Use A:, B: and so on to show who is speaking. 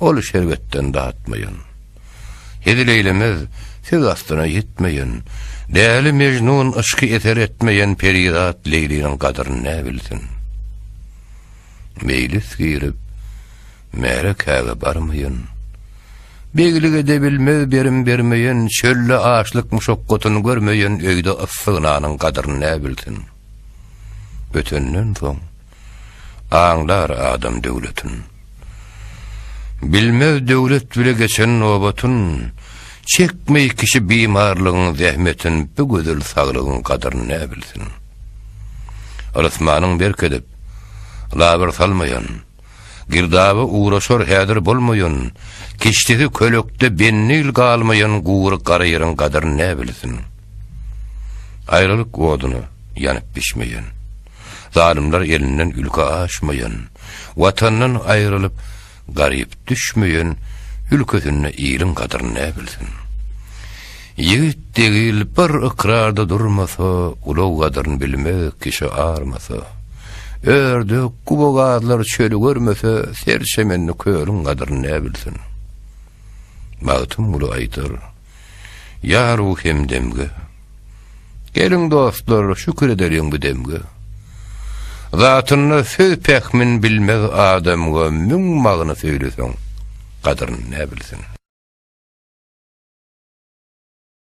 A: Ol şerbetden datmaýan. Hezil eýlemez, söz astyna ýetmeýän. Däli Mejnun yşky eser etmeýän perizat Leýliniň gadyryny nä bilsin. Meýlis girip, märekäge barmaýan. Beglik edebilmez berim bermeýän, çölde açlyk muşakgatyny görmeýän öýde yssy nanyň gadyryny nä bilsin. Ötenden soň, Aňlar adam döwletin. Bilmez döwlet bile geçen nobatyn, Çekmeý kişi bimarlygyň zähmetin, Bu gözel saglygyň gadyryny nä bilsin. Ylysmanyň berk edip, labyr salmaýan, Girdaby ugraşar häzir bolmaýan, Kişdesi kölekde bennil galmaýan Gury gara ýeriň gadyryny nä bilsin. Aýralyk oduny ýanyp bişmeýän. Zalymlar elinden ülke aşmaýan, Watandan aýrylyp, garyp düşmeýän Ülkesinde iliň gadyryny näbilsin? Ýigit degil bir ykrarda durmasa, Ulag gadyryny bilmez kişi armasa. Ördek, gubagazlar çöli görmese, Serçemenli kölüň gadyryny näbilsin? Magtymguly aýdar. Ýa ruh hemdemge. Geliň dostlar, şükür edeliň bu demge. Zatynda söz pähmin bilmez adamga müň magny söýleseň, gadyryn näbilsin.